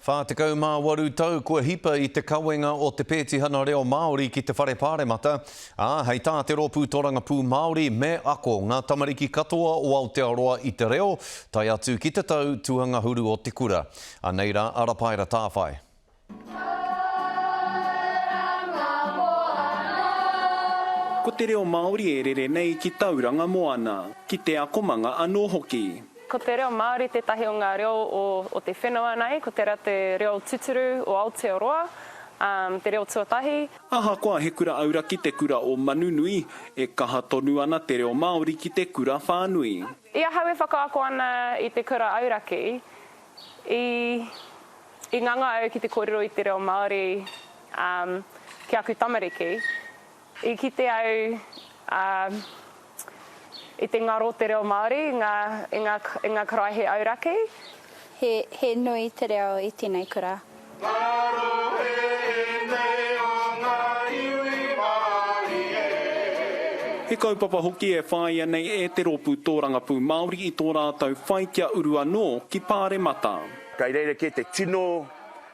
48 tau kua hipa i te kawenga o te pētihana reo Māori ki te Whare Pāremata, ā, hei tā te Rōpū Tōrangapū Māori, me ako ngā tamariki katoa o Aotearoa i te reo, tae atu ki te tau tuangahuru o te kura. Anei rā a Rapaera Tāwhai. Ko te reo Māori e rere nei ki Tauranga Moana, ki te akomanga anō hoki. Ko te reo Māori tētahi o ngā reo o te whenua nei, ko tērā te reo tuturu o Aotearoa, ā, te reo tuatahi. Ahakoa he kura auraki te kura o Manunui, e kaha tonu ana te reo Māori ki te kura whānui. I ahau e whakaako ana i te kura auraki, i, i nganga au ki te kōrero i te reo Māori, ā, ki aku tamariki. I kite au i te ngaro o te reo Māori i ngā karaehe auraki. He nui te reo i tēnei kura. Ngaro ēnei o ngā iwi Māori e. He kaupapa hoki e whāia nei e te rōpū tōrangapū Māori i tō rātou whai kia uru anō ki Pāremata. Kei reira kē te tino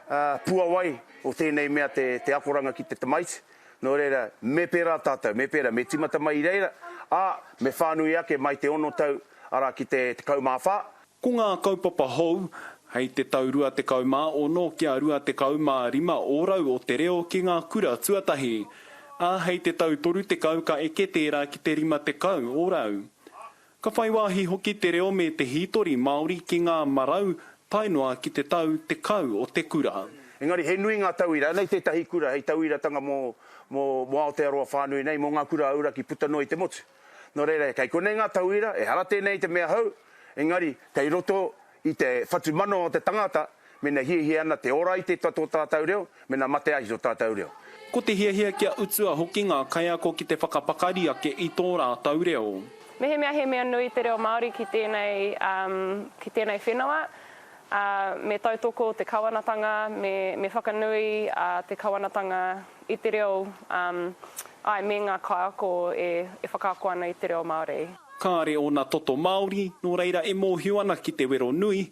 puawai o tēnei mea te akoranga ki te tamaiti. Nō reira, me pērā tātou, me pērā, me tīmata mai i reira, ā, me whānui ake mai te ono tau, arā, ki te tekau mā whā. Ko ngā kaupapa hou, hei te tau 26 kia 25 ōrau o te reo ki ngā kura tuatahi, ā, hei te tau 30 ka eke tērā ki te 50 ōrau. Ka whai wāhi hoki te reo me te hītori Māori ki ngā marau tae noa ki te tau tekau o te kura. Engari he nui ngā tauira, anei tētahi kura hei tauiratanga mō mō Aotearoa whānui nei, mō ngā kura auraki puta noa i te motu. Nō reira, kei konei ngā tauira, ehara tēnei te mea hou, engari kei roto I te whatumanawa o te tangata, mena hiahia ana te ora i te tua tō tātau reo, mena mate ahi tō tātau reo. Ko te hiahia kia utua hoki ngā kaiako ki te whakapakari ake i tō rātau reo. Mehemea he mea nui te reo Māori ki tēnei, ki tēnei whenua, me tautoko te kawanatanga, me whakanui te kawanatanga i te reo, āe, me ngā kaiako e whakaako ana i te reo Māori. Kāre ōna toto Māori, nō reira e mōhio ana ki te wero nui,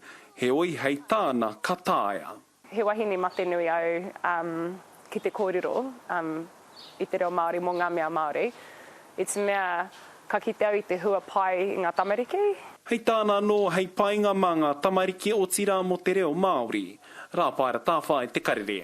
heoi hei tāna ka taea. He wahine mate nui au ki te kōrero i te reo Māori mō ngā mea Māori. I te mea ka kite au i te hua pai i ngā tamariki. Hei tāna anō, hei painga mā ngā tamariki otirā mō te reo Māori. Rāpaera Tāwhai, Te Karere.